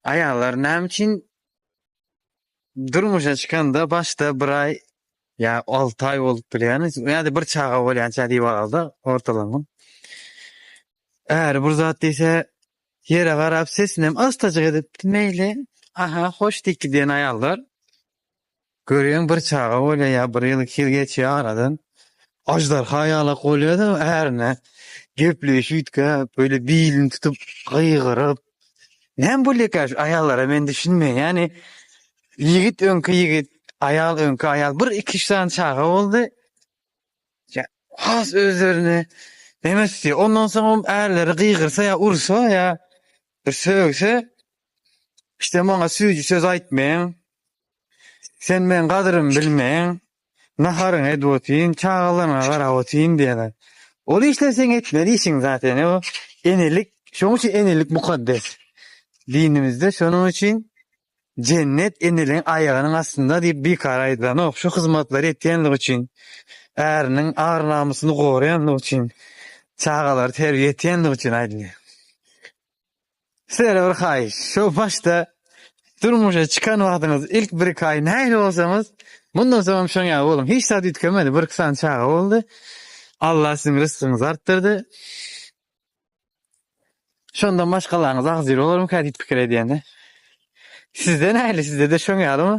Aýallar näme üçin durmuşa çykanda başda bir aý ýa alty aý bolup bilýän ýa-da bir çaga bolýança diýip alalda ortalama. Äri bir zat diýse ýere garap sesinem astajyk edip meýli aha hoş diýip gidýän aýallar. Görýäň bir çaga bolýar ýa bir ýyl iki ýyl geçýär aradan aždarha ýalak bolýada ärine gepleýşüytge böyle bilini tutup gygyryp näme bolýaka şu aýallara men düşünmeýän ýani ýigit öňki ýigit aýal öňki aýal bir iki üç sany çaga boldy has özlerini neme tutýar ondan soň ärleri gygyrsa ýa ursa ýa bir sögse Sen maňa süýji söz aýtmaň. Sen meň gadyrymy bilmäň. Naharyňy edip otyryn, çagalaryňa garap otyryn diýýärler. Ol işler seň etmeli işiň zat ene bu. Enelik, şonuň üçin enelik mukaddes. Dinimizde şonuň üçin Jennet eneligiň aýagynyň astynda diýip bikara aýdylanok. Şu hyzmatlary etýänligi üçin, äriniň ar-namysyny goraýanlygy üçin, çagalary terbiýe etýänligi üçin aýdylýar. Sizlere bir haýyş, şo başda durmuşa çykan wagtyňyz ilk bir-iki aý nähili bolsaňyz, mundan soň hem şoň ýaly boluň. Hiç zat üýtgemedi, bir-iki sany çaga boldy. Allah siziň rysgyňyzy artdyrdy. Şondan maşgalaňyz agzybir bolarmyka diýip pikir edýän-de. Sizde nähili, sizde-de şoň ýalymy?